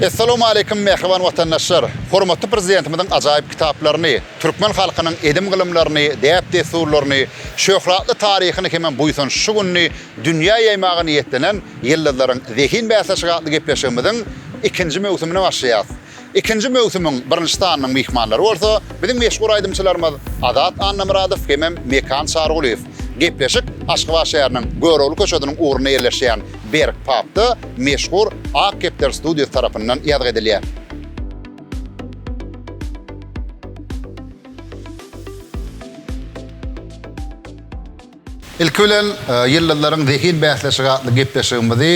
Essalamualeýkum mähriban watandaşlar! Hormatly Prezidentimiziň ajaýyp kitaplaryny, türkmen halkynyň edim-gylymlaryny, däp-dessurlaryny, şöhratly taryhyny hemem buýsançly şu gününi dünýä ýaýmaga niýetlenen Ýyldyzlaryň zehin bäsleşigi atly gepleşigimiziň ikinji möwsümine başlaýarys. Ikinji möwsümiň birinji sanynyň myhmanlary bolsa biziň meşhur aýdymçylarymyz Azat Annamyradow hemem Mekan Çarygulyýew. Gepleşik Aşgabat şäheriniň Görogly köçesiniň ugrunda ýerleşýän Berk Papda meşhur Ak kepder studiýasy tarapyndan ýazgy edilýär. Ilki bilen, Ýyldyzlaryň zehin bäsleşigi atly gepleşigimizi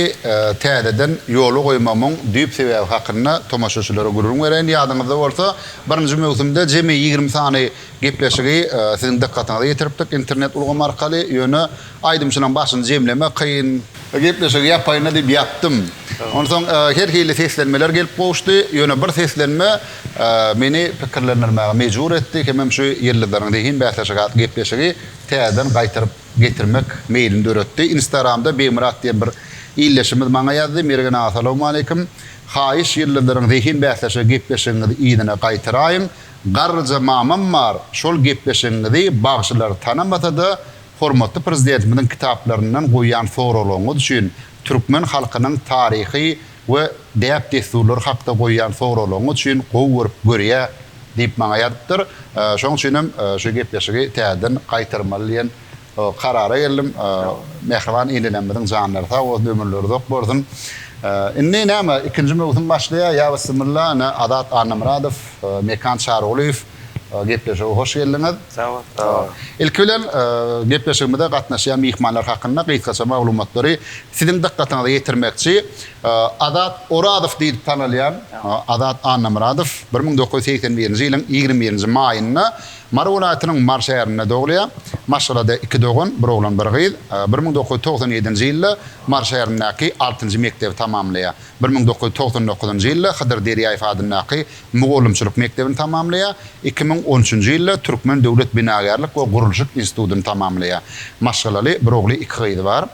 täzeden ýola goýmagymyň düýp sebäbi hakynda tomaşaçylara gürrüň bereýin. Ýadyňyzda bolsa, birinji möwsümde jemi ýigrimi sany gepleşigi siziň dykgatyňyza ýetiripdik internet ulgamy arkaly. Ýöne, Aýdymçynyň başyny jemlemek kyn. Gepleşigi ýapaýyn-da diýip ýatdym. Onsoň her hili seslenmeler gelip gowuşdy. Ýöne bir seslenme meni pikirlendirmäge mejbur etdi hemem şu Ýyldyzlaryň zehin bäsleşigi atly gepleşigi täzeden gaýtaryp getirmek meýlini döretdi. Instagramda Begmyrat diýen bir ildeşimiz maňa ýazdy, Mergen aga salowmaleýkim. Haýyş Ýyldyzlaryň zehin bäsleşigi gepleşigiňizi yzyna gaýtaraýyň. Garryja mamam bar, şol gepleşigiňizi bagşylar tanamasa-da, Hormatly Prezidentimiziň kitaplaryndan goýýan soraglaryňyz üçin, türkmen halkynyň taryhy we däp-dessurlary hakda goýýan soraglaryňyz üçin gowy görüp görýä diýip maňa ýazypdyr. Şonuň üçin hem şu gepleşigi täzeden gaýtarmaly diýen karara geldim. Mähriban enelemiziň janlary sag bolsun, ömürleri uzak bolsun. Indi näme, ikinji möwsüm başlaýar, ýa bissimilla, ine Azat Annamyradow, Mekan Çarygulyýew. Gepleşige hoş geldiňiz. Sag bol. Sag bol. Ilki bilen, gepleşigimize gatnaşýan myhmanlar hakynda gysgaça maglumatlary siziň dykgatyňyza ýetirmekçi. Azat Orazow diýlip tanalýan Azat Annamyradow bir müň dokuz ýüz segsen birinji ýylyň ýigrimi birinji maýynda Mary welaýatynyň Mary şäherinde dogulýar. Maşgalada iki dogan, bir oglan, bir gyz. Bir müň dokuz ýüz togsan ýedinji ýylda Mary şäherindäki altynjy mekdebi tamamlaýar. Bir müň dokuz ýüz togsan dokuzynjy ýylda Hydyr Derýaýew adyndaky mugallymçylyk mekdebini tamamlaýar, iki müň on üçünji ýylda Türkmen döwlet binagärlik we gurluşyk institutyny tamamlaýar. Maşgalaly, bir ogly, iki gyzy bar.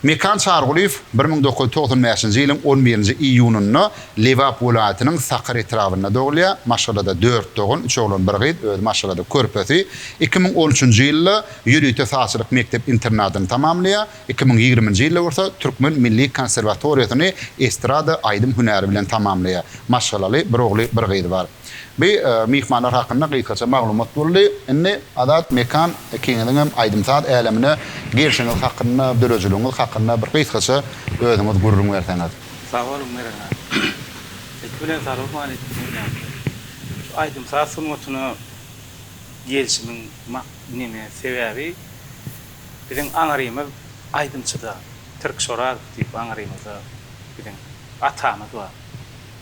Mekan Çargulyýew bir müň dokuz ýüz togsan bäşinji ýylyň on birinji iýunynda Lebap welaýatynyň Sakar etrabynda dogulýar. Maşgalada dört dogan, üç oglan, bir gyz, özi maşgalada körpesi. Iki müň on üçünji ýylda ýörite sazçylyk mekdep-internadyny tamamlaýar. Iki müň ýigriminji ýylda bolsa Türkmen milli konserwatoriýasyny estrada aýdym hünäri bilen tamamlaýar. Maşgalaly, bir ogly, bir gyzy bar. Bu myhmanlar hakynda gysgaça maglumat boldy. Indi Azat Mekan ikiňiziňem aýdym-saz älemine gelşiňiz hakynda, döredijiligiňiz hakynda bir gysgaça özüňiz gürrüň berseňiz. Sag boluň Meren aga. Ilki bilen Salam aleýkum jemgyýete. Şu aýdym-saz sungatyna gelşimiň mak neme sebäbi? Biziň aňrymyz aýdymçyda, Tirk Şorazow diýip aňrymyzda biziň atamyz bar.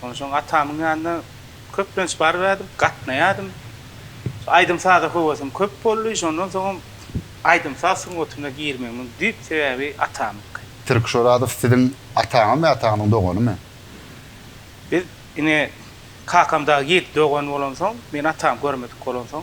Ondan soň atamyň ýanyna köplenç baryberdip, gatnaýardym. Şu aýdym-saza höwesim köp boldy. Şondan soňam aýdym-saz sungatyna girmegimiň düýp sebäbi atamyňky. Tirk Şorazow siziň ataňyzmy ýa ataňyzyň doganymy? Biz ine kakam dagy ýedi dogan bolansoň, men atamy görmedik bolansoň,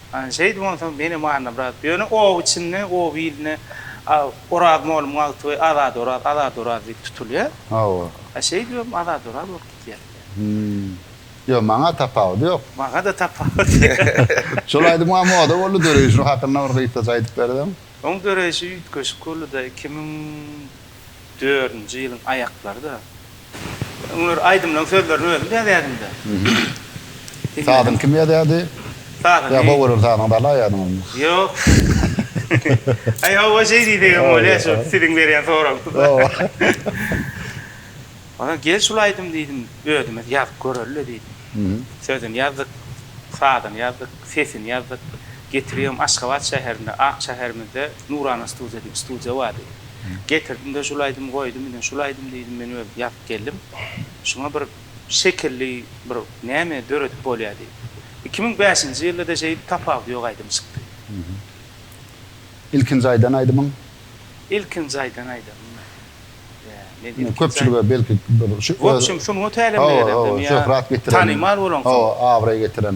Ana, şeýdip onsoň menem Anna brat, ýöne oba içinde, oba ilinde Oraz mollumyň agty we Azady Oraz, Azady Oraz diýip tutulýar. Hawa. A şeýdip hem Azady Oraz bolup gidýär. Hümm. Ýok, maňa tapawudy ýok. Maňa-da tapawudy ýok. Şol aýdym a moda boldy, döreýşi hakynda bir gysgaça aýdyp berseň? Oň döreýşi üýtgeşik boldy-da, iki müň. Dördünji ýylyň aýaklary-da. Öňler aýdymlaryň sözlerini özüm ýazýardym-da. Sazyňy kim ýazýardy? Sazymy. Ýa Howanyň sazyny galaýardyňyzmy? Ýok. Aý, hawa, şeý diýsegem bolýar, şu siziň berýän soragyňyza. Onsoň gel şul aýdymy diýdim, özümiz ýazyp göreli-le diýdim. Sözüni ýazdyk, sazyny ýazdyk, sesini ýazdyk. Getiribem Aşgabat şäherinde, ak şäherimizde Nurana studiýa diýip studiýa bardy. Getirdim-de şul aýdymy goýdum, ine şul aýdym diýdim men özüm ýazyp geldim. Şuňa bir şekilli bir näme döredip bolýa diýip. Iki müň bäşinji ýylda-da şeýdip Tapawudy ýok aýdym çykdy. Ilkinji aýdan aýdymyň? Ilkinji aýdan aýdymym men. Ine köpçülige belki bir şu. Wobşem sungat älemine gelendim ýa. Şöhrat getiren. Tanymal bolan. Hawa, abraý getiren.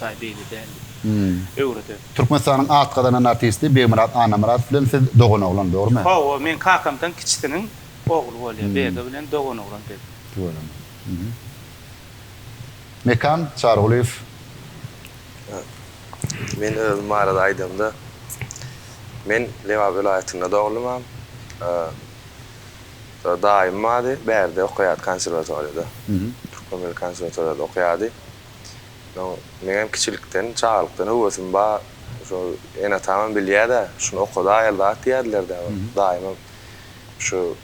Saý beýle däldi. Öwreder. Türkmenistanyň at gazanan artisti Begmyrat Annamyradow bilen siz doganoglan, dogrumy? Hawa, meň kakamdan kiçisiniň ogly bolýar, Bege bilen doganoglan biz. Doganoglan. Mekan Çarygulyýew. Men özüm barada aýdamda, men Lebap welaýatynda doglumam. Daýym bardy, bärde okaýardy konserwatoriýada. Türkmen milli konserwatoriýada okaýardy. Soň meňem kiçilikden, çagalykdan höwesim bar. Şo ene-atamam bilýär-dä, şuny okadaýaly zat diýerdiler-dä. Daýymam şu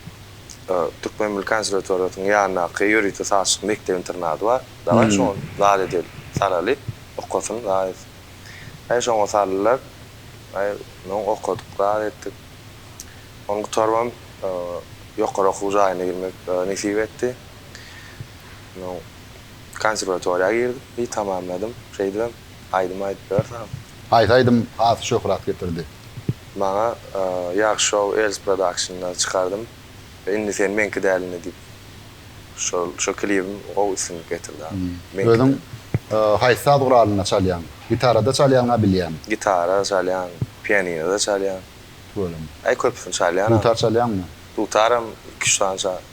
Türkmen milli konserwatoriýasynyň ýanyndaky ýörite sazçylyk mekdep-internady bar. Dagaý şoňa zat edeli, salaly, okasyn zat etsin. Aý şoňa saldylar. Aý onsoň okadyk, zat etdik. Ony gutarybam ýokary okuw jaýyna girmek nesip etdi. Onsoň. Konserwatoriýa girdim, bi tamamladym. Şeýdibem aýdym aýdyp ýörsäm. Haýsy aýdym has şöhrat getirdi? Maňa Ýag Show Else Production-da çykardym. Indi sen meňki däl indi diýip şol şo klibim gowy üstünlik getirdi abi. Meňki däl. Özüň haýsy saz guralynda çalýaň? Gitarada çalýaňa bilýän. Gitara çalýan, pianinoda çalýan. Tüweleme. Aý köpüsini çalýan abi. Dutar çalýaňmy? Dutaram iki-üç sany çalýan.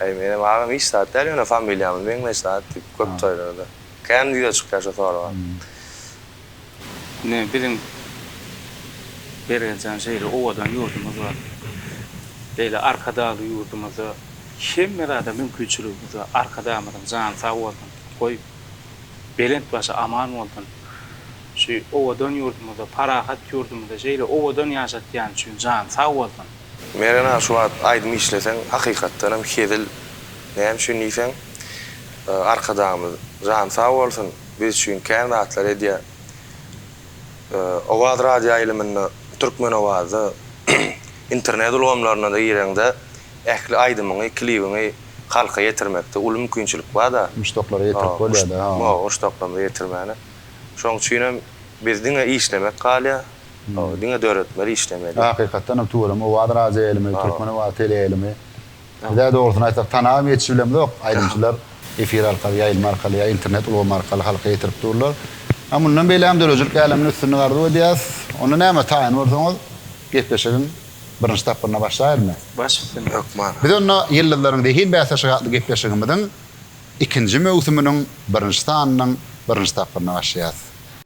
Eý, menem agam hiç zat däl, ýöne familiýamyz meňzeş zat diýip, köp toýlarda. Kän ýüze çykýar şu sorag. Ine, biziň Mergenjan şeýle owadan ýurdumyz bar. Beýle Arkadagly ýurdumyzda hemme zada mümkinçiligimiz bar. Arkadagymyzyň jany sag bolsun, goý, belent başy aman bolsun. Şu owadan ýurdumyzda, parahat ýurdumyzda şeýle owadan ýaşatýany üçin jany sag bolsun. Mergen-a şu wagt aýdym işleseň hakykatdanam hezil näme üçin diýseň Arkadagymyz jany sag bolsun biz üçin kän zatlar edýär Owaz radioýaýlymynda Türkmenowazda internet ulgamlaryna-da gireňde ähli aýdymyňy klibiňi halka ýetirmekde uly mümkinçilik bar-da Muşdaklara ýetirip bolýar-da ha. Muşdaklarymyza ýetirmäne. Şoň üçinem biz diňe işlemek galýar. Diňe döretmeli işlemeli. Hakykatdan hem tuweleme owaz radio ýaýlymy, türkmen owazy teleýaýlymy. Bizä dogrusyny aýtsak tanabam ýetişip bilemzok. Aýdymçylar efir arkaly, ýaýlym arkaly ýa internet ulgamy arkaly halka ýetirip durlar. A mundan beýlägem döredijilik älemine üstünlik arzuw edýäs. Onda näme taýyn bolsaňyz gepleşigiň birinji tapgyryna başlaýylmy? Başlasyn hökman. Biz onda Ýyldyzlaryň zehin bäsleşigi atly gepleşigimiziň ikinji möwsüminiň birinji sanynyň birinji tapgyryna başlaýas.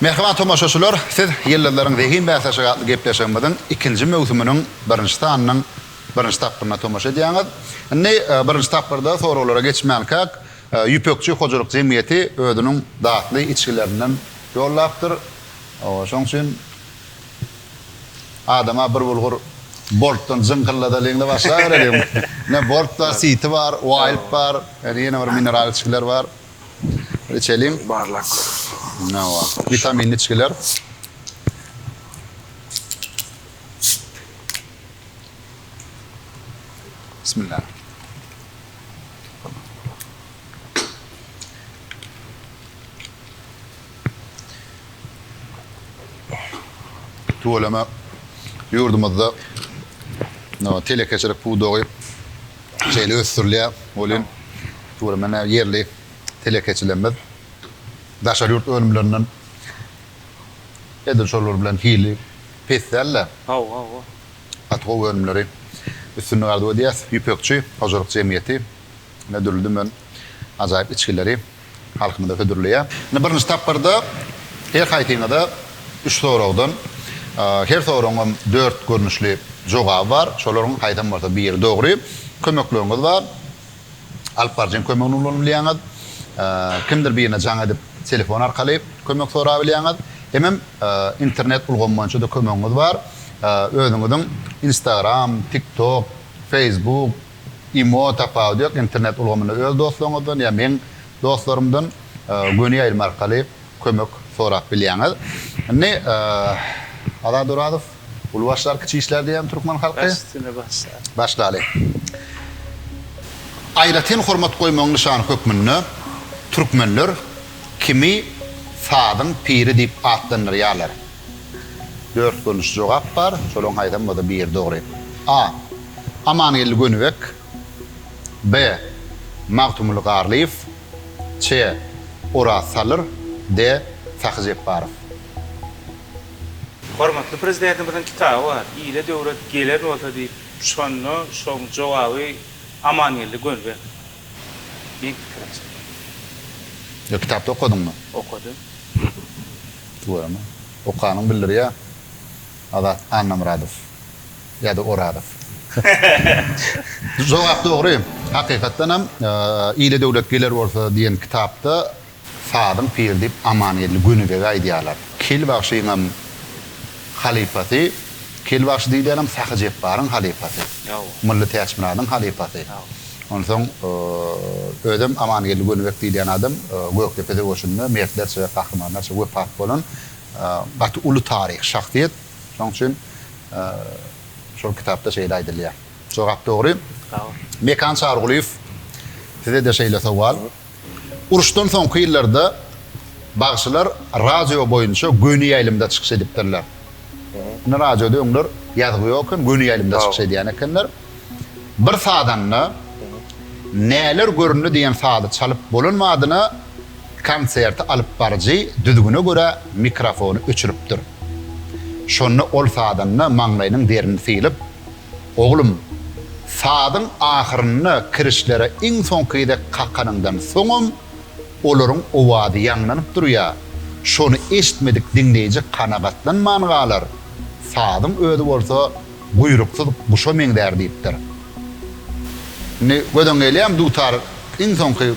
Mähriban tomaşaçylar, siz Ýyldyzlaryň zehin bäsleşigi atly gepleşigimiziň ikinji möwsüminiň birinji sanynyň birinji tapgyryna tomaşa edýäňiz. Indi birinji tapgyrda soraglara geçmänkäk, Ýüpekçi hojalyk jemgyýeti özüniň datly içgilerinden ýollapdyr. Şonuň üçin adama bir bulgur boltdan jyňkylladalyň-da başlabereliň. Ine, bolt bar, siti bar, waýlp bar, ýene bir mineral içgiler bar. Içeliň. Barlak. Hawa. Witaminli içgiler. Bismillah. Tüweleme ýurdumyzda telekeçilik pudagy şeýle ösdürilýär. Ol hem türkmen ýerli telekeçilerimiz daşary ýurt önümlerinden edil şolar bilen hili pes däl-de, gaty gowy önümleri üstünlik arzuw edýäs. Ýüpekçi hojalyk jemgyýeti dürli-dümen ajaýyp içgileri. halkymyza hödürleýär. Indi birinji tapgyrda her haýsyňyza üç soragdan, her soragyň hem dört görnüşli jogaby bar. Şolaryň haýsam bolsa biri dogry. Kömekleriňiz bar. Alyp baryjyň kömegini ulanyp bilýäňiz. Kimdir birine jaň edip, telefon arkaly kömek sorap bilýäňiz. Hemem internet ulgamy boýunça-da kömegiňiz bar. Özüňiziň Instagram, TikTok, Facebook, Imo tapawudy ýok internet ulgamynda öz dostlaryňyzdan ýa meň dostlarymdan göni ýaýlym arkaly kömek sorap bilýäňiz. Indi Azat Orazow uly başlar kiçi işler diýýän türkmen halky. Baş üstüne baş. Başlaly. Aýratyn hormat goýmagyň nyşany hökmünde türkmenler kimi sazyň piri diýip atlandyrýarlar. Dört görnüşli jogap bar, şolaryň haýsam bolsa biri dogry. A. Amangeldi Gönübek B. Magtymguly Garlyýew C. Oraz Salyr D. Sahy Jepbarow. Hormatly Prezidentimiziň kitaby bar, Ile döwlet gelen bolsa diýip, şonda şoň jogaby Amangeldi Gönübek. Beýik pikir aslynda. Ýok kitapda okadyňmy? Okadym. Görme. Okanyň bildirýä Azat Annamyradow ýada Orazow. Jogap dogry. Hakykatdanam Ile döwlet geler bolsa diýen kitapda Sazyň piri diýip Amangeldi Gönübege aýdýarlar. Kil bagşyňam halypasy, Kil bagşy diýilýänem Sahy Jepbaryň halypasy, Mylly Täçmyradyň halypasy. Onsoň özem Amangeldi Gönübek diýilýän adam Gökdepe söweşinde mertlerçe we gahrymanlarça wepat bolan gaty uly taryhy şahsyýet. Şonuň üçin şol kitapda şeýle aýdylýar. Jogap dogry. Mekan Çarygulyýew, Size-de şeýle sowal. Uruşdan soňky ýyllarda bagşylar radio boýunça göni ýaýlymda çykyş edipdirler. Indi radioda öňler ýazgy ýok eken, göni ýaýlymda çykyş edýän ekenler. Bir sazanda Näler göründi diýen sazy çalyp bolan badyna konserti alyp baryjy düzgüne görä mikrofony öçüripdir. Şonda ol sazanda maňlaýynyň derini sylyp, Oglum, sazyň ahyrynda kirişlere iň soňky gezek kakanyňdan soňam olaryň owazy ýaňlanyp durýar, şony eşitmedik diňleýji kanagatlanman galar, sazyň özi bolsa guýruksyz guşa meňzär diýipdir. Indi gözüň gelýärmi, dutar iň soňky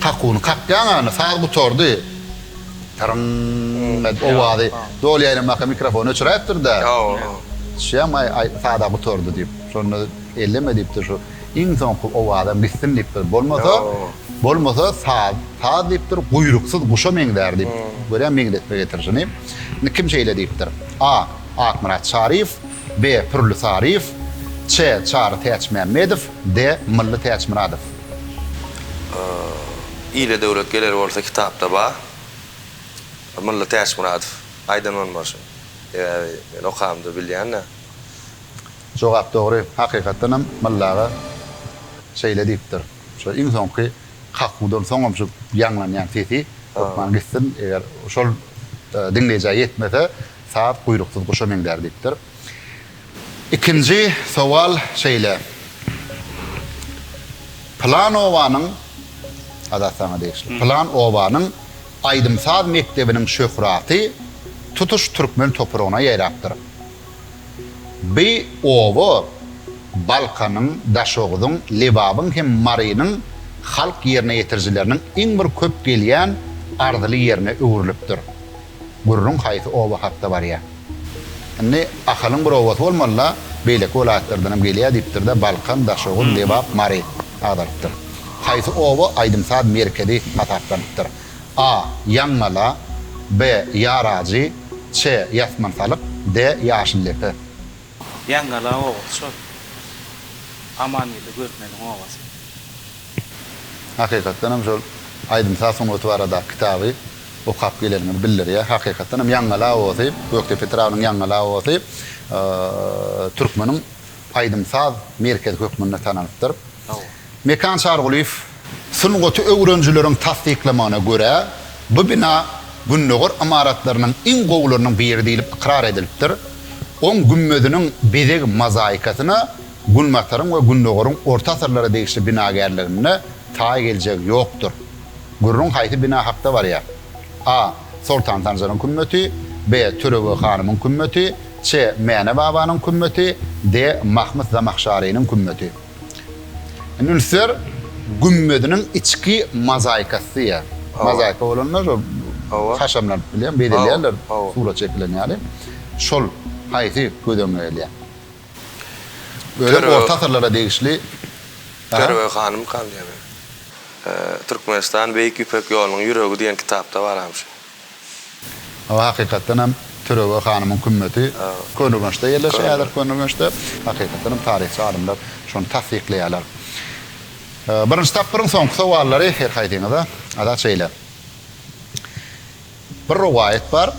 kakuwyny kakýan ýaly, saz gutardy. Tyryň edip owazy doly ýaýramaka mikrofony öçüräýipdir-de. Şuýam aý sada gutardy diýip, şonda elleme diýipdir şu iň soňky owazam gitsin diýipdir. Bolmasa, bolmasa saz, saz diýipdir, guýruksyz guşa meňzär diýip, görýän meňzetme getirişini. Indi kim şeýle diýipdir? A. Akmyrat Çaryýew, B. Pürli Saryýew, Ç. Çary Täçmämmedow, D. Mylly Täçmyradow. Ile döwlet geler bolsa kitapda bar. Mylly Täçmyradow aýdan bolmalyşyn. Sebäbi men okamda bilýän-de. Jogap dogry, hakykatdanam Mylly aga şeýle diýipdir. Şu iň soňky kakuwdan soňam şu ýaňlanýan sesi hökman gitsin, eger şol diňleýjä ýetmese, saz guýruksyz guşa meňzär diýipdir. Ikinji sowal şeýle, Pylan obanyň, Azat saňa degişli, Pylan obanyň aýdym-saz mekdebiniň şöhraty tutuş türkmen topragyna ýaýrapdyr. Bi oba Balkanyň, Daşoguzyň, Lebabyň hem Marynyň halk ýerine ýetirijileriniň iň bir köp gelýän arzyly ýerine öwrülipdir. Gürrüň haýsy oba hakda barýa. Indi Ahalyň bir obasy bolmaly-la, beýleki welaýatlardanam gelýä diýipdir-de, Balkan, Daşoguz, Lebap, Mary agzalypdyr. Haýsy oba aýdym-saz merkezi hasaplanypdyr? A. Ýaňgala B. Ýarajy Ç. Ýasmansalyk D. Ýaşyldepe. Ýaňgala obasy şol. Amangeldi Görmeliň obasy. Hakykatdan hem şol aýdym-saz sungaty baradaky kitaby okap geleniňizi bildirýär. Hakykatdan hem Ýaňgal awasy, Gökdepe etrabynyň Ýaňgal awasy türkmeniň aýdym-saz merkezi hökmünde tanalpdyr. Mekan Çargulyýew. Sungaty öwrenijileriň tassyklamagyna görä, bu bina Gündogar ymaratlarynyň iň gowularynyň biri diýlip ykrar edilipdir. Oň gümmeziniň bezeg mozaikasyna Günbataryň we Gündogaryň orta asyrlara degişli binagärliginde taý geljegi ýokdur. Gürrüň haýsy bina hakda barýar? A. Soltan Sanjaryň kümmeti B. Törebeg hanymyň kümmeti C. Mäne babanyň kümmeti D. Mahmyt Zamahşarynyň kümmeti Indi ünsler gümmeziniň içki mozaikasy diýýär. Mozaika bolanda şol haşamlanyp bilen bezelýärler surat çekilen ýaly. Şol haýsy göz öňüne gelýär? Bölüm orta asyrlara degişli. Perwe hanym Kanyýewa. Türkmenistan Beýik Ýüpek ýolunyň ýüregi diýen kitapda baram şu. Hawa, hakykatdan hem Türewe hanymyň kümmeti. Köneürgençde ýerleşýär, häzir Köneürgençde. Hakykatdan hem taryhçy alymlar şony tassyklaýarlar. Birinji tapgyryň soňky sowallary her haýsyňyza, Azat şeýle. Bir rowaýat bar,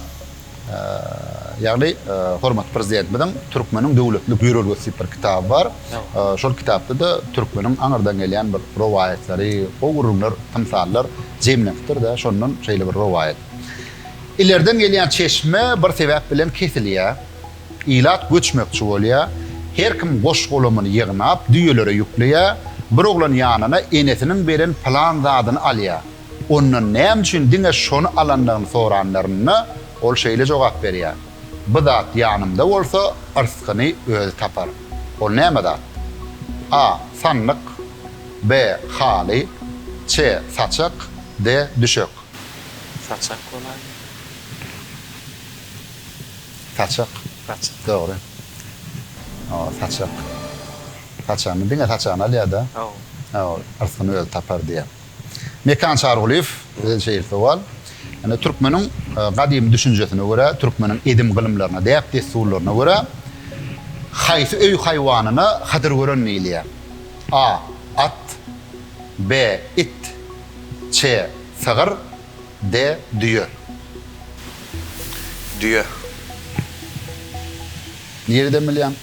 ýagny hormatly Prezidentimiziň Türkmeniň döwletlilik ýörelgesi diýip bir kitaby bar. Şol kitapda-da türkmeniň aňyrdan gelýän bir rowaýatlary, gowy gürrüňler, tymsallar jemlenipdir-de, şondan şeýle bir rowaýat. Ilerden gelýän çeşme bir sebäp bilen kesilýär. Ilat göçmekçi bolýar. Her kim goş-golamyny ýygnap, düýelere ýükleýär. Bir oglan ýanyna enesiniň beren pylan zadyny alýar. Ondan näme üçin diňe şony alandygyny soranlarynda, ol şeýle jogap berýär, Bu zat ýanymda bolsa, yrskyny özi tapar. Ol näme zat? A. Sandyk. B. Haly. C. Saçak. D. Düşek. Saçak bolaýmaly. Saçak. Saçak. Dogry. Hawa, saçak. Saçagyny, diňe saçagyny alýar-da. Hawa. Hawa, yrskyny özi tapar diýýär. Mekan Çargulyýew bizden şeýle sowal, Ine, türkmeniň gadymy düşünjesine görä, türkmeniň edim-gylymlaryna, däp-dessurlaryna görä, haýsy öý haýwanyna hydyrgören diýilýär? A. At. B. It. Ç. Sygyr. D. Düýe. Düýe. Nireden bilýäň?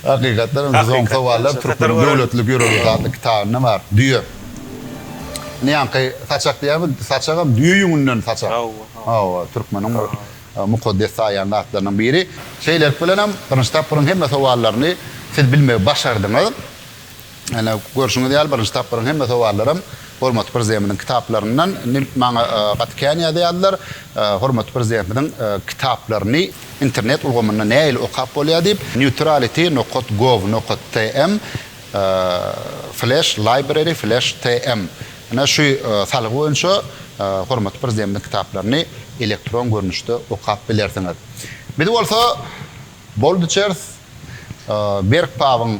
Hakykatdanam biz oň sowallar Türkmeniň döwletlilik ýörelgesi atly kitabynda bar. Düýe. Indi ýaňky saçak diýýärmi? Saçagam düýe ýüňünden saçak. Hawa, hawa. Hawa, türkmeniň bir mukaddes saýýan zatlarynyň biri. Şeýlelik bilenem birinji tapgyryň hemme sowallaryny siz bilmegi başardyňyz. Ine, görşüňiz ýaly, birinji tapgyryň hemme sowallaram hormatly Prezidentimiziň kitaplaryndan. Indi maňa gaty kän ýazýardylar, hormatly Prezidentimiziň kitaplaryny internet ulgamynda nähili okap bolýar diýip. Neutrality nokat gov nokat tm Flash Library Flash tm Ine, şu salgy boýunça hormatly Prezidentimiziň kitaplaryny elektron görnüşde okap bilersiňiz. Biz bolsa, Boldy Çers, Berk Pabyň.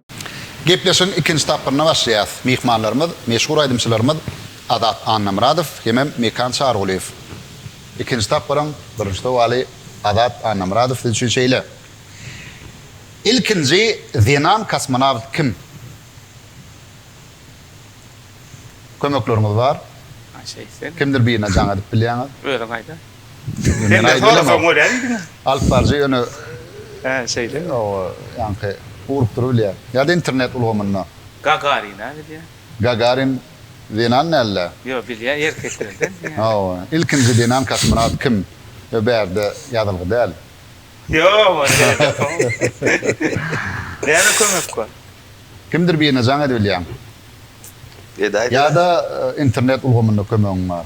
Gepleşigiň ikinji tapgyryna başlaýarys. Myhmanlarymyz, meşhur aýdymçylarymyz Azat Annamyradow hemem Mekan Çarygulyýew. Ikinji tapgyryň birinji sowaly Azat Annamyradow siz üçin şeýle. Ilkinji zenan kosmonawt kim? Kömekleriňiz bar. Kimdir birine jaň edip bilýäňiz? Özüň aýda. Sende sorasa görýär diýdiň. Alyp baryjy ýöne. Hä, şeýlemi? Hawa, ýaňky urup durup bilýär. Ýa-da internet ulgamynda. Gagarin-a bilýär. Gagarin zenan däl-dä? Ýok, bilýär, erkekler däl diýýär. Hawa, ilkinji zenan kosmonawt kim? Ýa bärde ýazylgy däl? Ýok, ony ýere ýazsaň. Näme kömek bar? Kimdir birine jaň edibilýäň. Edäýdä. Ýa-da internet ulgamynda kömegiň bar.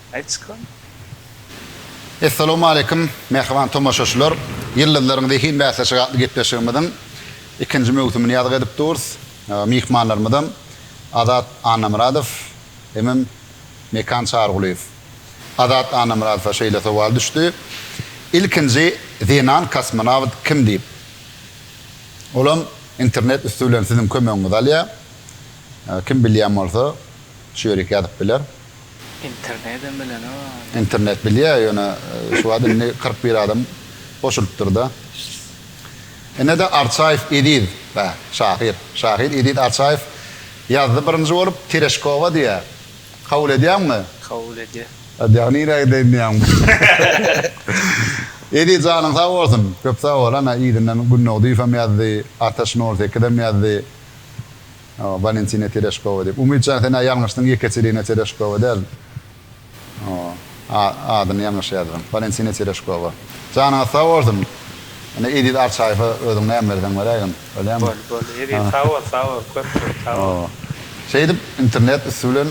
Aýtysykam. Essalawmaleýkim, mähriban tomaşaçylar! Ýyldyzlaryň zehin bäsleşigi atly gepleşigimiziň ikinji möwsümini ýazgy edip durus. Myhmanlarymyzam Azat Annamyradow hemem Mekan Çarygulyýew. Azat Annamyradowa şeýle sowal düşdi, Ilkinji zenan kosmonawt kim diýip. Olam internet üsti bilen siziň kömegiňizi alýar. Kim bilýän bolsa, şu ýerik ýazyp biler. Internedem bilenok. Internet bilýär ýöne şu wagt indi kyrk bir adam goşulypdyrda. Inede Arçaýew Eziz bä şahyr. Şahyr Eziz Arçaýew ýazdy birinji bolup Tereşkowa diýýä. Kabul edýäňmi? Kabul edýän. Edýäň nirä gideýin diýýäňmi? Eziz janyň sag bolsun. Köp sag bol. Ana yzyndan Gündogdyýewem ýazdy. Ataş nol sekizem ýazdy. Walentina Tereşkowa diýip. Umytjan sen-ä ýalňyşdyň Ýeketerina Tereşkowa däl. Adyny ýalňyş ýazypsyň. Walentina Tereşkowa. Janyňyz sag bolsun. Ine Eziz Arçaýewe özüň näme berseň beräýgin. Bolýamy? Boldy, boldy. Eziz sag bol, sag bol. Köp köp sag bol. Şeýdip internet üsti bilen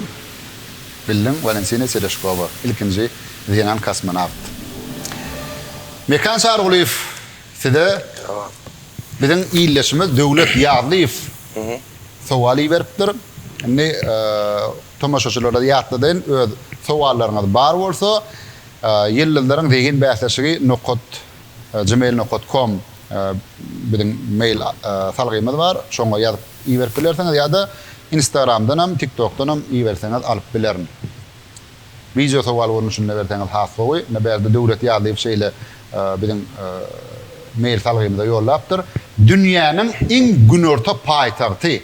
bildiň Walentina Tereşkowa, ilkinji zenan kosmonawt. Mekan Çarygulyýew. Size biziň ildeşimiz Döwlet Ýazlyýew sowal iberipdir. Indi tomaşaçylara ýatladyn, öz sowallaryňyz bar bolsa, Ýyldyzlaryň zehin bäsleşigi nokat gmail nokat kom biziň mail salgymyz bar, şoňa ýazyp iberip bilersiňiz ýa-da Instagramdan hem, TikTokdan hem iberseňiz alyp bilerin. Wideo sowal bolny şunda berseňiz has gowy. Ine bärde Döwlet Ýazlyýew şeýle biziň mail salgymyza ýollapdyr. Dünýäniň iň günorta paýtagty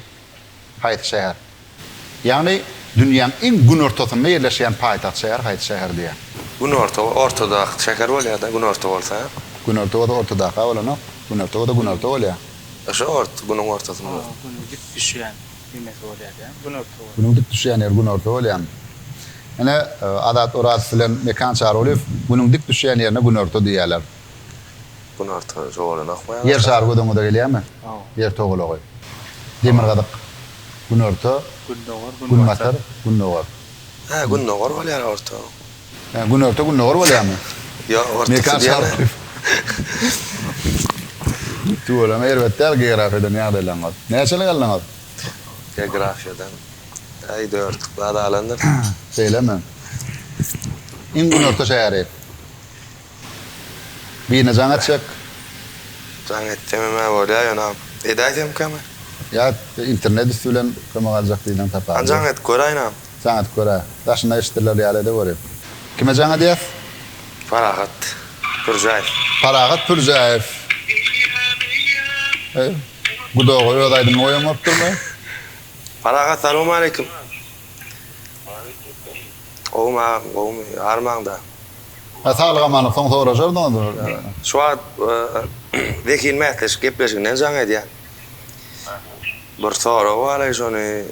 haýsy şäher? Ýagny dünýäň iň günortasynda ýerleşýän paýtagt şäher haýsy şäher diýýär. Günorta we ortadaky şäher bolýada günorta bolsa. Günorta bolsa ortadaka bolanok. Günorta bolsa günorta bolýa. Şo ort, günüň ortasynda. Gün dik düşýän. Diýmesi bolýar ýa günorta bolýar. Günüň dik düşýän ýeri günorta bolýamy? Ine, Azat Orazow bilen Mekan Çarulyýew Günüň dik düşýän ýerine günorta diýýärler. Günorta jogalan akmaýa başlasa. Ýer şary göz öňüňize gelýärmi? Hawa. Ýer togalagy. Demirgazyk, günorta. Gündogar, günbatar. Günbatar, gündogar. Hä, gündogar bolýar orta. He, günorta gündogar bolýarmy? Ýok, ortaçy diýýärler. Tüweleme erbet däl geografiýadan ýagdaýlaryňyz. Näçelik aldyňyz? Geografiýadan, äý dörtlük bal alandyr. Şeýlemi? Iň günorta şäheri? Birine jaň etjek. Jaň etjem hem-ä bolýar, ýöne edäýsemkäm? Ýa internet üsti bilen kömek aljak birinden taparmy? Jaň edip göräýnäm. Jaňat kör-ä. Daşynda eşidilýär ýaly edeweri. Kime jaň edýäs? Parahat Pürjäýew. Parahat Pürjäýew. Eý, gudaga öz aýdymyny goýan bolupdyrmy? Parahat salowmaleýkim. Gowumy agam, gowumy, armaňda? Hä, saglyk-amanlyk soň soraşardyňyz. Şu wagt Zehin mätleşik gepleşiginden jaň edýän. Bir sorag baraý şony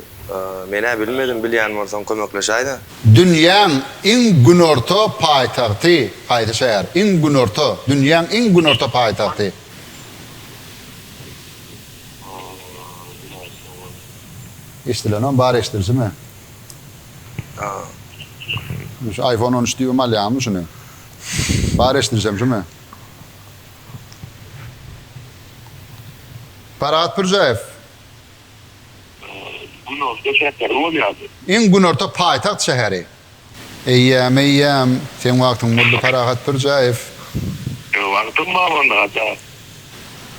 menä bilmedim bilýän bolsaň kömekleşäýdä. Dünýäň iň günorta paýtagty haýsy şäher? Iň günorta, dünýäň iň günorta paýtagty. Eşdilenem bar eşdilsime. Ine şu iPhone on üç diýibem alýaňmy şuny? Bar eşdilsem şumy? Parahat Pürjäýew. Günorta şäheri bolýardy. Iň günorta paýtagt şäheri. Eýýäm, eýýäm. Seň wagtyň boldy, Parahat Pürjäýew. Meň wagtym bar onda, Haçan?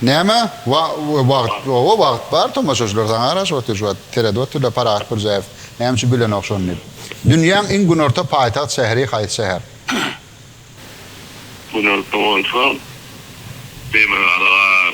Näme? Wa-wagt? Oba, wagt bar, tomaşaçylar saňa garaşyp otyr şu wagt. Seredip otyrlar, Parahat Pürjäýew näme üçin bilenok şony diýip. Dünýäň iň günorta paýtagt şäheri haýsy şäher? Günorta bolsa, Demirgazyk-a.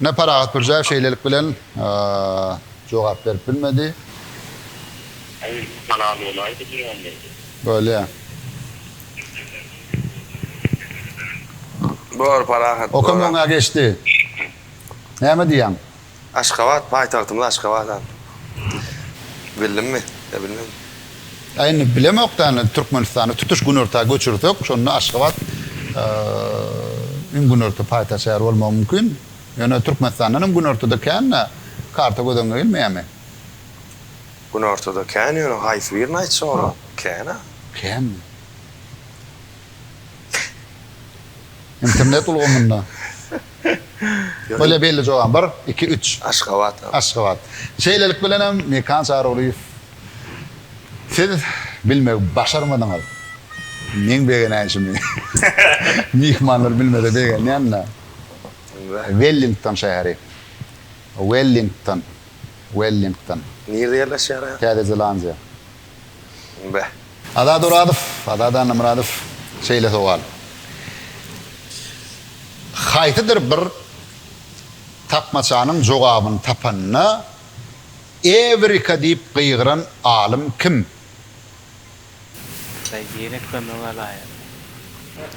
Ine, Parahat Pirjaýew şeýlelik bilen jogap berip bilmedi. Aý, halal bolaýdy diýýän diýdi. Bolýa. Bor, Parahat, bor. Okam öňe geçdi. Näme diýýäň? Aşgabat, paýtagtymyz Aşgabat-a. Bildimmi? Ýa bilmedimi? Ýa indi bilemok da indi Türkmenistany tutuş günorta göçürsek şonda Aşgabat iň günorta paýtagt şäher bolmagy mümkin. Ýöne Türkmenistandan hem günortada kända karta göz öňüne gelmeýärmi? Günortada kän ýöne haýsy birini aýtjak olar? Kän-a. Känmi? Internet ulgamynda. Bolýa belli jogabym bar. Iki üç. Aşgabat. Aşgabat. Şeýlelik bilen hem Mekan Çarygulyýew. Siz bilmegi başarmadyňyz. Meň begenäýşimi myhmanlar bilmese begenýän-dä. Wellington şäheri. Wellington. Wellington. Nirede ýerleşýär? Täze Zelandiýa. Be. Azat Orazow, Azat Annamyradow, şeýle sowal. Haýsydyr bir tapmaçanyň jogabyny tapanda, Ewrika diýip gygyran alym kim? Daýy ýene kömege alaýyn.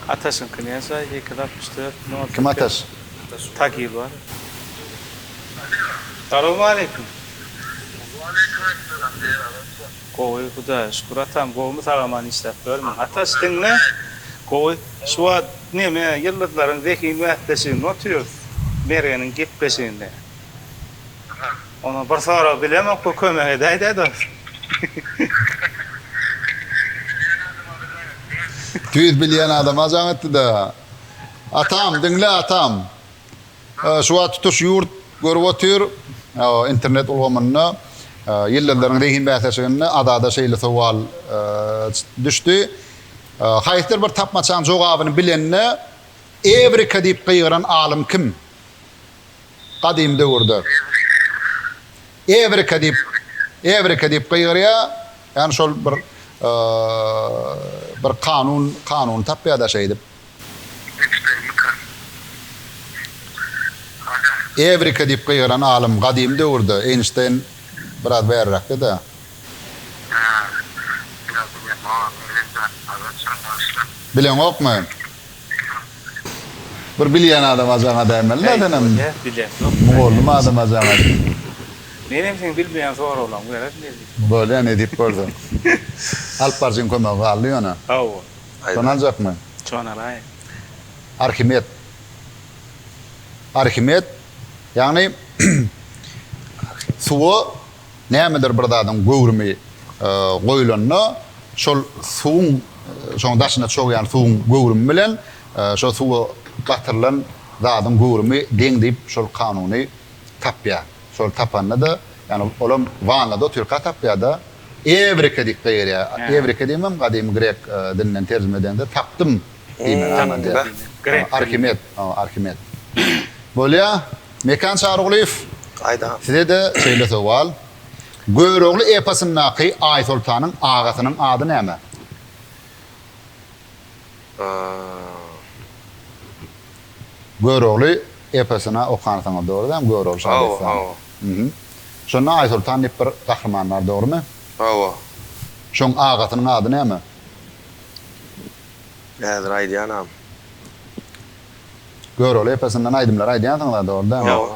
Ataşyňky näçe? Ýek ýüz altmyş dört müň otuz iki. Kim Ataş? Tagir bar. Salowmaleýkim. Waleýkim essalam Daýy habarçy. Gowy Hudaýa şükür atam gowumy sagaman işläp ýörmüň. Ataş diňle gowy şu wagt neme ýyldyzlaryň zehin bäsleşiginde otyrys Mergeniň gepleşiginde. Ona bir sorag bilemokka kömek edäýdä dost. Tüýs bilýän adam ajaň etdi-dä. Atam, diňle atam. Şu wagt tutuş ýurt görüp otyr. Internet ulgamynda Ýyldyzlaryň zehin bäsleşiginde Azada şeýle sowal düşdi. Haýsydyr bir tapmaçaň jogabyny bilende Ewrika diýip gygyran alym kim? Gadym döwürde Evrika diýip, Evrika diýip gygyrýar, ýagny şol bir bir kanun, kanuny tapýar da şeýdip. Evrika diýip gygyran alym gadym döwürde, Eýnşteýn biraz bäriräkde-de. Bileňokmy? Bir bilýän adam ajaňa dämeli da senem mugallym adam ajaňa diýip. Menem seň bilmeýän soraglaň bilen ne diýip. Bolýa ne diýip bolsa. Alyp barjyň kömegi galdy ýöne. Hawa. Şony aljakmy? Şony alaýyn. Arhimed. Arhimed ýagny suwa. Nämedir bir zadyň göwrümi goýlanda, şol suwuň, şoň daşyna çogýan suwuň göwrümi bilen şo suwa batyrylan zadyň göwrümi deň diýip şol kanuny tapýar. Şol tapanda-da, ýagny olam wannada otyrka tapýar-da, Ewrika diýip gygyrýar. Ewrika diýmem, gadymy grek dilinden terjime edende tapdym diýme manyda. Arhimed, Arhimed. Bolýa. Mekan Çarygulyýew, size-de şeýle sowal. Görogly eposyndaky Aýsoltanyň agasynyň ady näme? Görogly eposyny okansyňyz, dogry däl, Görogly şa dessany. Şonda Aýsoltan diýip bir gahryman bar, dogrumy? Hawa. Şoň agasynyň ady näme? Häzir aýdýanam. Görogly epesinden aýdymlar aýdýansyňyz-a dogry dämi? Ýok.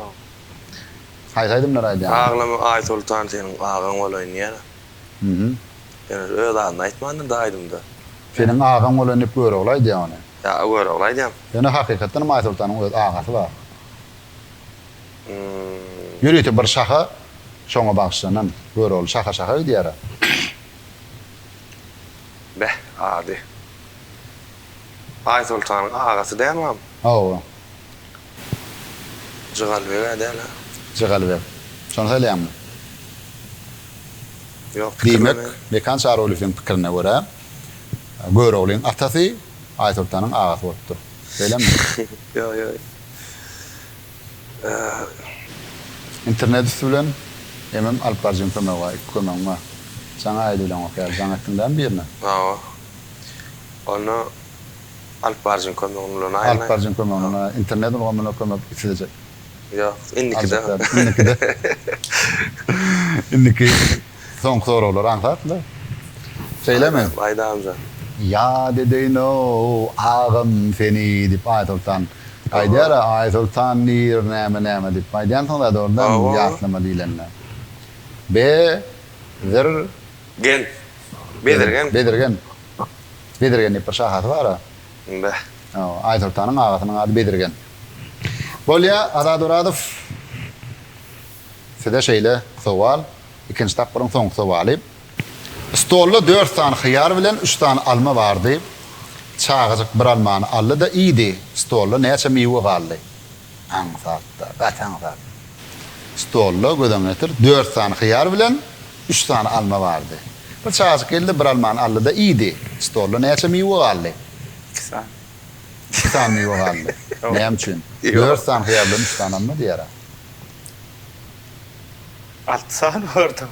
Haýsy aýdymlary aýdýaňyz? Aglama Aýsoltan seniň agaň bolaýyn diýýän-ä. Hü-hü. Ýöne öz adyny aýtmandyr da aýdymda. Seniň agaň bolaýyn diýip Görogly aýdýa ony. Ýa Görogly aýdýam. Ýöne hakykatdan hem Aýsoltanyň öz agasy bar. Hü-hü. Ýörite bir şaha şoňa bagyşlanan. Görogly şaha şaha gidýär-ä. Beh, ady. Aýsoltanyň agasy dälmi am? Hawa. Jygalbeg-ä däl-ä? Jygalbeg. Şony saýlaýaňmy? Ýok, Diýmek, pikirlenýän. Mekan Çarygulyýewiň pikirine görä, Göroglyň atasy Aýsoltanyň agasy bolupdyr. Beýlemi? Ýok, ýok. Ýa. Internet üsti bilen emem alyp barjyň kömegi bar, iki kömegiň bar. Jaň aýdy bilen okaýarys. Jaň etdiň dämi birine? Hawa. Onda Alyp baryjyň kömegini ulanaýyn. Alyp baryjyň kömegini ulanaýyn. Internet ulgamyna kömek islejek. Ýok, indikide. Indikide. Indiki soňky soraglary aňsat-la. Şeýlemi? Aýdamjan. Ýat edeýin-ow, agam seni, diýip, Aýsoltan aýdýar-a, Aýsoltan diýr, näme-näme diýip aýdýansyň zat orda, ýatlama diýlende. Be, zir, Gen. Bezirgen. Bezirgen. Bezirgen diýip bir şahasy bar-a. Beh. Hawa, Aýsoltanyň agasynyň ady Bezirgen. Bolýa, Azat Orazow. Size şeýle sowal, ikinji tapgyryň soňky sowaly. Stolda dört sany hyýar bilen üç sany alma bardy. Çagajyk bir almany aldy-da iýdi. Stolda näçe miwe galdy? Aňsat-da, gaty aňsat. Stolda, göz-öňüne getir, dört sany hyýar bilen üç sany alma bardy. Bir çagajyk geldi-de, bir almany aldy-da, iýdi. Stolda näçe miwe galdy? Iki sany. Iki sany miwe galdy. Näme üçin? Dört sany hyýar bilen üç sany alma diýer-ä. Alty sany bardy-ow.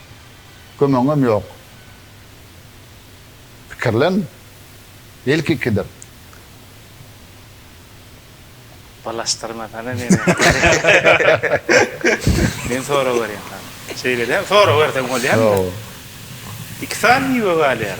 Kömegiňem ýok. Pikirlen. Belki ikidir. Balaşdyrmasana meni. Men sorag berýän sana. Şeýle däl, sorag berseň bolýarmy? Ýok. Iki sany miwe galýar.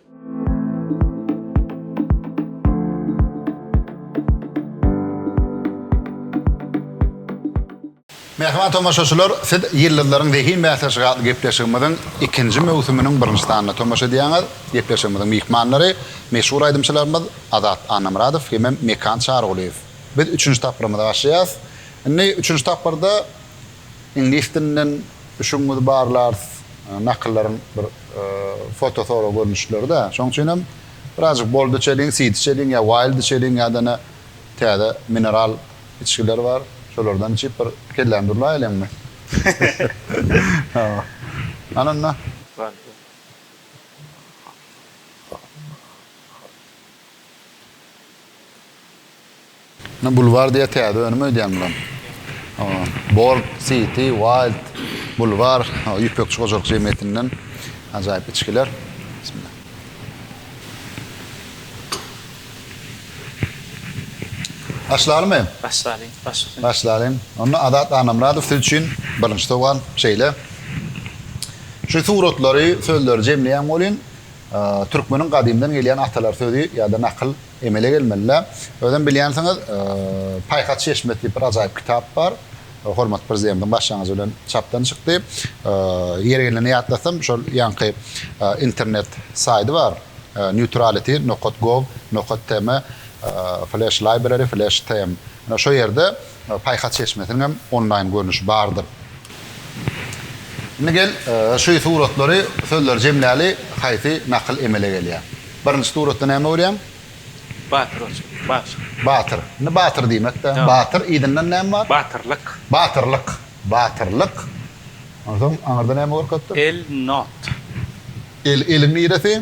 Mähriban tomaşaçylar, siz Ýyldyzlaryň zehin bäsleşigi atly gepleşigimiziň ikinji möwsüminiň birinji sanyna tomaşa edýäňiz. Gepleşigimiziň myhmanlary, meşhur aýdymçylarymyz Azat Annamyradow hemem Mekan Çarygulyýew. Biz üçünji tapgyrymyza başlaýas. Indi üçünji tapgyrda Iňlis dilinden düşügiňizi barlarys, nakyllaryň bir foto sorag görnüşleri-dä. Şoň üçinem birazjyk bold içeliň, seed içeliň ýa wild içeliň ýa-da täze mineral içgiler bar. Şolardan içip bir kelläni durlaýalyňmy? Hawa. Hany onda. Ine bulwar diýe täze önüm öýdýän bulam. Bold, City, Wild, Bulwar, Ýüpekçi hojalyk jemgyýetinden ajaýyp içgiler. Bismillah. Başlalymy? Başlalyň, başlalyň. Başlalyň. Onda Azat Annamyradow siz üçin birinji sowal şeýle. Şu suratlary, sözleri jemleýän bolýun. Türkmeniň gadymdan gelýän atalar sözi ýa-da nakyl Emele gelmeli-le. Özem bilýänsiňiz, Paýhas çeşmesi diýip bir ajaýyp kitap bar. Hormatly Prezidentiň başlangyjy bilen çapdan çykdy. Ýeri gelende ýatlasam, şol ýaňky internet saýdy bar, Neutrality, nokat gov, nokat tm, Flash Library, Flash tm. Ine, şo ýerde Paýhas çeşmesiniň hem onlaýn görnüşi bardyr. Indi gel, şu suratlary, sözleri jemläli, haýsy nakyl emele gelýär? Birinji suratda näme görýäň? Batyr oçur, batyr. Batyr. Indi batyr diýmek-dä. Batyr, yzyndan näme bar? Batyrlyk. Batyrlyk. Batyrlyk. Onsoň aňyrda näme görkezipdir? El, not. El, eliň niresi?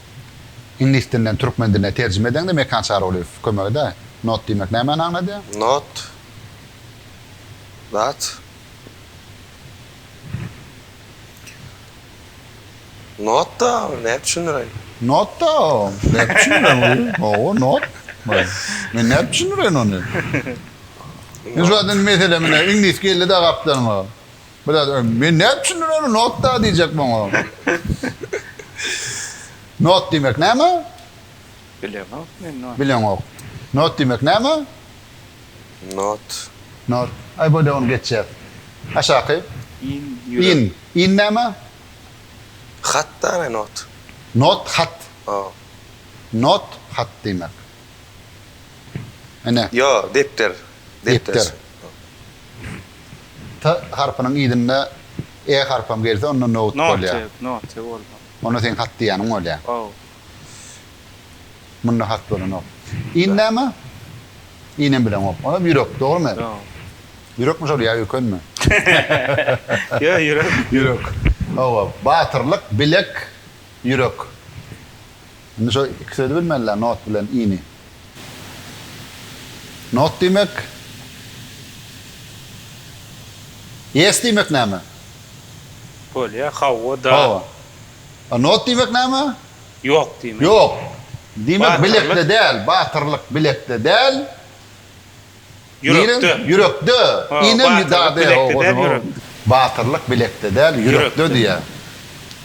Iňlis dilinden türkmen diline terjime edeňde Mekan Çarygulyýew kömek eder. Not diýmek nämäni aňladýar? Not, zat. Notda, nädip düşündireýin? Notda, nädip düşündireýin oýy? Hawa, not. Men nädip düşündireýin ony? Meselem ine, iňlis geldi-de gapdalyňa. Biraz öň men nädip düşündim ony not da diýjek maňa. Not diýmek näme? Bileňok men not. Bileňok. Not diýmek näme? Not. Not. Aý bolýa ony geçýäs. Aşaky. In ýürek. In. In näme? Hat da ne not. Not hat. O. Not hat diýmek. Ene. Ýo depder. Depder. T harpynyň yzynda E harpam gelse onda note bolýar. Note bolýar. Onda seň hat diýýäniň bolýar. Haw. Munda hat bolanok. In näme? In hem bileňok. Onda ýürek, dogrymy? Dogry. Ýürekmi şol ýa ökünmi? Ýok, ýürek. Ýürek. Hawa, batyrlyk, bilek, ýürek. Indi şo iki sözi bilmeliler not bilen ini. Not diýmek Yes diýmek näme? Bolýa hawa da. Hawa. A not diýmek näme? Ýok diýmek. Ýok. Diýmek bilekde däl, batyrlyk bilekde däl. Ýürekde. Nirem? Ýürekde. Ho, Ine mi batyrlyk dade ho bilekde däl, ozuňam ýürekde. batyrlyk bilekde däl ýürekde Ýürekde. diýýä.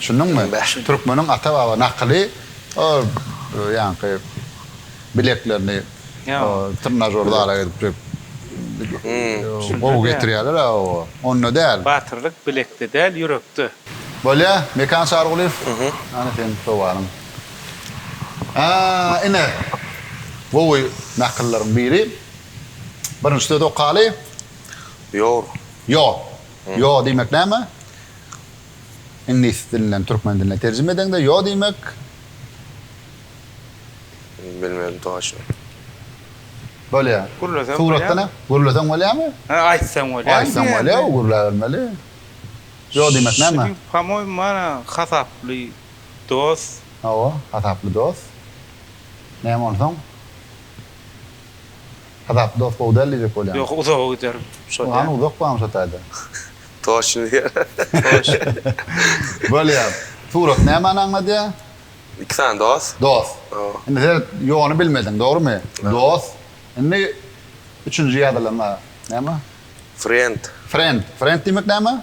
Şunduňmy? Ymba. Türkmeniň ata baba nakyly o ýaňky bileklerini Ýa. o trnažor zala gidip jüp Şunda gowy däl. getirýärler a o onda däl. Batyrlyk bilekde däl ýürekde. Bolýa Mekan Çarygulyýew. Ana seniň sowalyň. A, ine, gowy nakyllaryň biri. Birinji sözi okaly. Ýor. Ýo. Ýo diýmek näme? Iňlis dilinden türkmen diline terjime edeňde ýo diýmek. Bilmedim toýaşyny. Bolýa. Gürleseň bolýa. Suratda ne? Gürleseň bolýamy? Hä, aýtsaň bolýa. Aýtsaň bolýa, gürläbermeli. Ýo diýmek näme? Şeýdip, hamoý mana hasaply. dost. Hawa, hasaply dost. Näme onsoň? Hasaply dost gowy däl diýjek bolýaň. Ýok, uzaga giderin. Şol ýa. Hany uzak barmy şo taýda? Toçny diýer. Toçny. Bolýar. Surat nämani aňladýar? Iki sany dost. Dost. Hawa. Indi seret, ýony bilmediň, dogrumy? Dost. Indi üçünji ýazylana näme? Friend. Friend. Friend diýmek näme?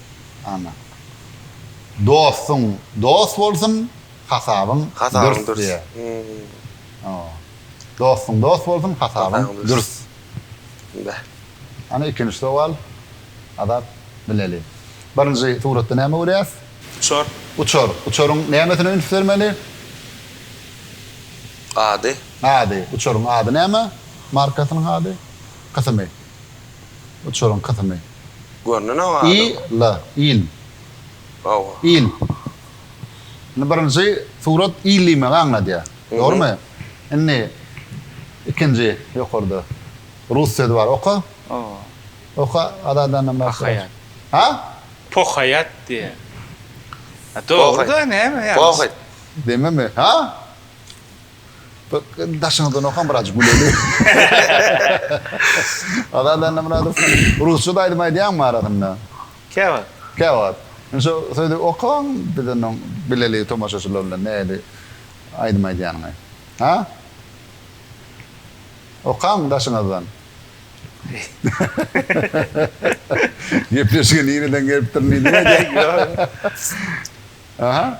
Ana. Dostuň dost bolsun, hasabyň dürs diýýär. Hasabyň dürs. Dostuň dost bolsun, hasabyň dürs. Beh. Ana ikinji sowal. Azat bileli. Birinji suratda näme görýäs? Uçar. Uçar. Uçaryň nämesine üns bermeli? Ady. Ady. Uçaryň ady näme? Markasynyň ady? Kysymy? uçuryň kysyny. Görnüne galyň. Il, il. Hawa. Il. Indi birinji surat il diýmegi aňladýar. Dogrumy? Indi ikinji ýokarda rus sözi bar. Oka. Hawa. Oka Azadanam bar. Pohaýat. Ha? Pohaýat diýýär. Dogry-da, näme ýalňyş. Pohaýat. Dememe. Ha? Daşyňyzdan okan biraz güleli. Azat Annamyradow rusça da aýdym aýdýaňmy arasynda? Käwagt. Käwagt. Indi şo sözi okaň biz onda bileli tomaşaçylar bilen nähili aýdym aýdýanyňy. Ha? Okaň daşyňyzdan. Gepleşige nireden gelipdirin diýdim-ä. Aha.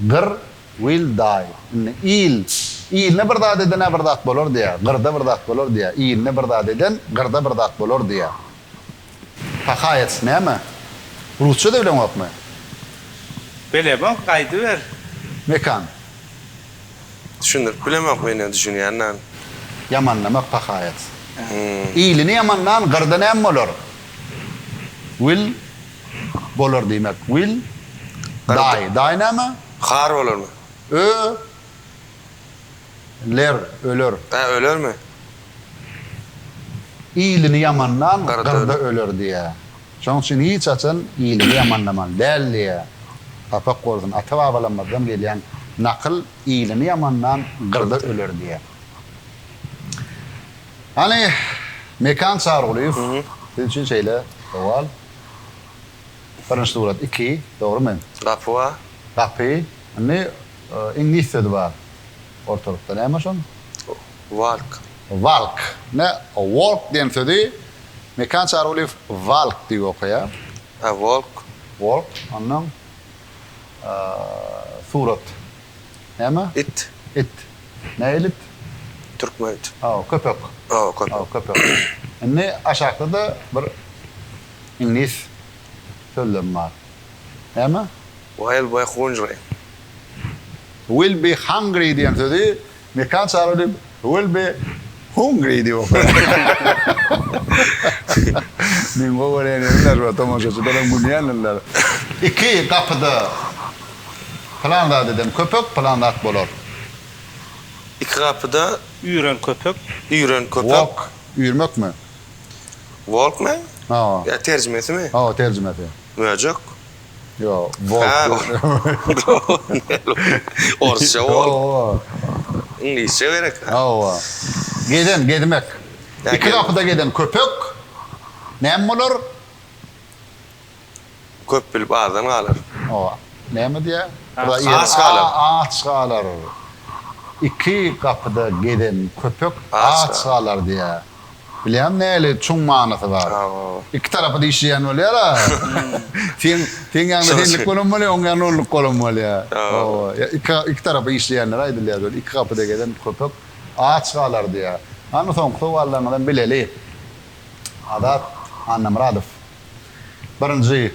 Gyr, Will die. Indi il, iline bir zat eden-ä bir zat bolar diýýär, gyrda bir zat bolar diýýär, iline bir zat eden gyrda bir zat bolar diýýär. Hahaýec näme? Rusçada bileňokmy? Bilemok, aýdyber. Mekan. Düşündirip bilemok men ýa düşünýän däl. Ýamanlamak pahaýec. Iline ýamanlan gyrda näme bolar? Will. Bolar diýmek will daý daý näme? Har bolarmy? Ö ler öler. Hä ölermi? Ilini ýamanlan gyrda öler diýä. Şoň üçin hiç haçan ilini ýamanlamaly däl diýä. Sapak bolsun ata babalamyzdan gelýän nakyl ilini ýamanlan gyrda öler diýä. Hany Mekan Çargulyýew siz üçin şeýle sowal. Birinji surat iki, dogrymy? Gapy bar. Gapy. Indi iňlis sözi bar ortalykda. Näme şoň? Walk. Walk. Ine walk diýen sözi Mekan Çargulyýew walk diýip okaýar. A walk. Walk. Onnoň surat Näme? It. It. Nähili it? Türkmen it. Hawa, köpek. Hawa, köpek. Hawa, köpek. Indi aşakda-da bir iňlis sözlem bar. Näme? Will be hungry. Will be hungry diýen sözi Mekan çaga diýip, will be hungry diýip okar. Meň gowy görýän ýerimler we tomaşaçylaram gülýändirler. Iki gapyda pylan zat eden köpek pylan zat bolar. Iki gapyda üýren köpek. Üýren köpek. Walk, üýrmekmi? Walkman? Hawa. Ýa terjimesimi? Hawa, terjimesi. Möjek. Yo, Orsça walk. Iňlisçe gerek. Hawa. Gezen, gezmek. Iki gapyda gezen köpek näme bolar? Köp bilip azdan galar. Hawa. Näme diýýär? Aç galar. Aç galar. Iki gapyda gezen köpek aç galar diýýär. Bilýän näli çuň manysy bar. Iki tarapy dişleýän bolýar-a. Seň seň ýaňda senlik bolan bolýar, oň ýaňda onluk bolan bolýar. Hawa. Ýa iki iki tarapy dişleýänler aýdylýar şol. Iki gapyda gezen köpek aç galar diýýär. Hany soňky sowallaryňyzam bileli. Azat Annamyradow. Birinji.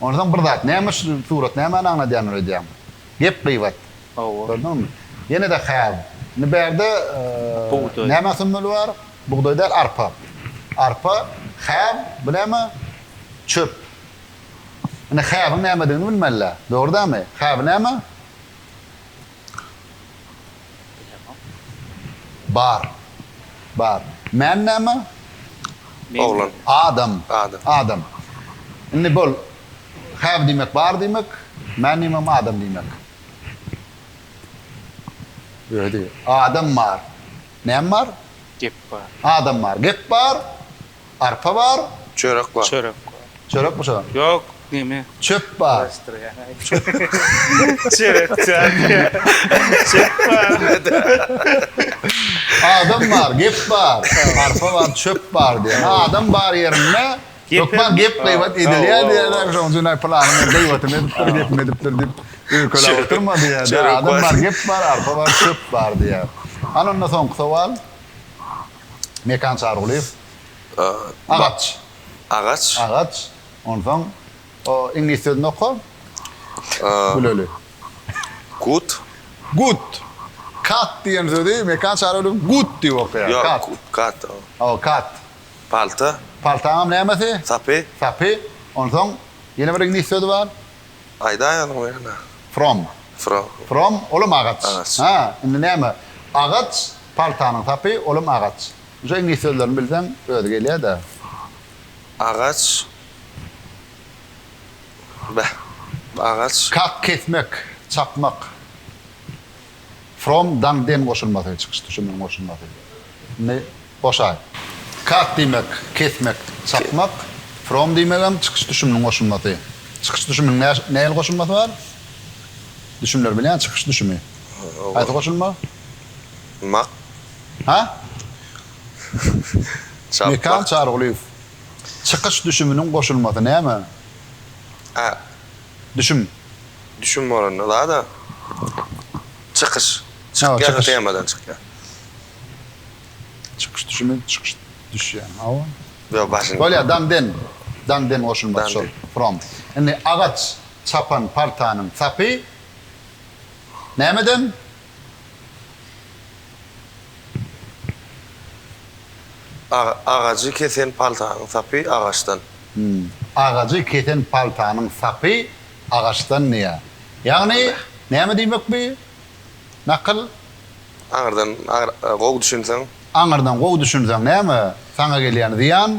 Onsoň bir zat, näme şu surat nämäni aňladýandyr öýdýäňmi? Gep gybat. Hawa. Gördüňmi? Ýene-de have. Indi bärde Bugdaý. näme sömmeli bar? Bugdaý däl, arpa. Arpa, have, bu näme? Çöp. Indi have-iň nämedigini bilmeli-dä. Dogry dälmi? Have näme? Bar. Bar. Men näme? Oglan. Adam. Adam. Adam. Indi bol. Have diýmek bar diýmek. Men diýmegem adam diýmek. Adam bar. Näme bar? Gep bar. Adam bar. Gep bar. Arpa bar. Çörek bar. Çörek bar. Çörekmi şo? Ýok, neme? Çöp bar. Garaşdyrýan aýdýan. Çörek çörek. Çöp bar. Adam bar, gep bar. Arpa bar, çöp bar diýen. Adam bar ýerinde hökman gep gybat edilýär diýýärler. Şonuň üçin aý pylany men gybatym edipdir, gepim edipdir diýip öýkelap oturma diýýär. Adam bar, gep bar, arpa bar, çöp bar diýýär. Hany onda soňky sowal. Mekan Çarygulyýew. Agaç. Agaç. Agaç. Onsoň o iňlis sözüni oka. Güleli. Gut. Gut. Kat diýen sözi Mekan Çarygulyýew gut diýip okaýar. Ýok, kat. Kat. Hawa, kat. Palta. Paltaňam nämesi? Sapy. Sapy. Onsoň ýene bir iňlis sözi bar. Aýdaýalyň bir ýene. From. From. From, olam agaç. Agaç. Ha, indi näme? Agaç, paltanyň sapy, olam agaç. Şu iňlis sözlerini bilseň, özi gelýär-dä. Agaç. Beh, agaç. Kak, kesmek, çapmak. From daň den goşulmasy çykyş düşüminiň goşulmasy ny goşaý. Cut diýmek, kesmek, çapmak. From diýmegem çykyş düşüminiň goşulmasy. Çykyş düşüminiň nä nähili goşulmasy bar? Düşümleri bilýän çykyş düşümi. Haýsy goşulma? Mak. Ha? Çapmak. Mekan Çarygulyýew. Çykyş düşüminiň goşulmasy näme? A. Düşüm. Düşüm bolanda zada çykyş çykýar temadan çykýar. Çykyş düşümi çykyş düşýär hawa. Ýok başyn. Bolýar daň den daň den goşulmasy şol from. Indi agaç çapan partanyň sapy nämeden? Agajy kesen paltanyň sapy agaçdan. Agajy kesen paltanyň sapy agaçdan diýýär. Ýagny näme diýmek bi nakyl? Aňyrdan gowy düşünseň. Aňyrdan gowy düşünseň näme saňa gelýän zyýan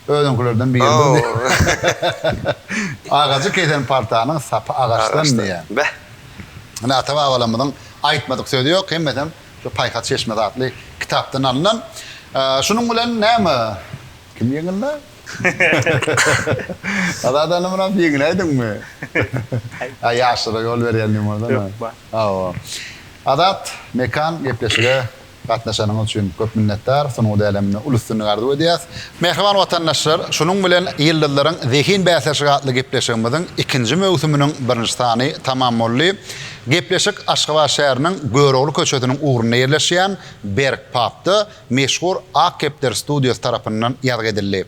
Özüňkilerden biri boldy. Agajy kesen paltanyň sapy agaçdan diýýän. Beh! Ine, ata-babalarymyzyň aýtmadyk sözi ýok, hemmesem şu Paýhas çeşmesi atly kitapdan alnan. Şunuň bilen näme, kim ýeňildi? Azat ynha munam ýeňiläýdiňmi? Aý, ýaşlara ýol berýän limuzin. Ýok, bar. Hawa. Azat, Mekan gepleşige Gatnaşanyňyz üçin köp minnetdar. Sungat äleminde uly üstünlik arzuw edýäs. Mähriban watandaşlar, şunuň bilen Ýyldyzlaryň zehin bäsleşigi atly gepleşigimiziň ikinji möwsüminiň birinji sany tamam boldy. Gepleşik Aşgabat şäheriniň Görogly köçesiniň ugrunda ýerleşýän Berk pubda meşhur Ak kepder studiýasy tarapyndan ýazgy edildi.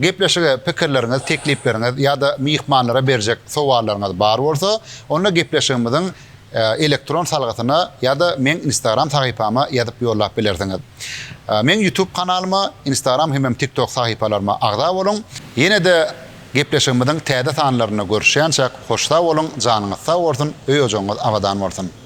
Gepleşige pikirleriňiz, teklipleriňiz ýa-da myhmanlara berjek sowallaryňyz bar bolsa, onda gepleşigimiziň elektron salgysyna ýa-da meň Instagram sahypama ýazyp ýollap bilersiňiz. Meň Youtube kanalyma, Instagram hemem TikTok sahypalaryma agza boluň. Ýene-de gepleşigimiziň täze sanlarynda görüşýänçäk, hoş sag boluň, janyňyz sag bolsun, öý-ojagyňyz abadan bolsun!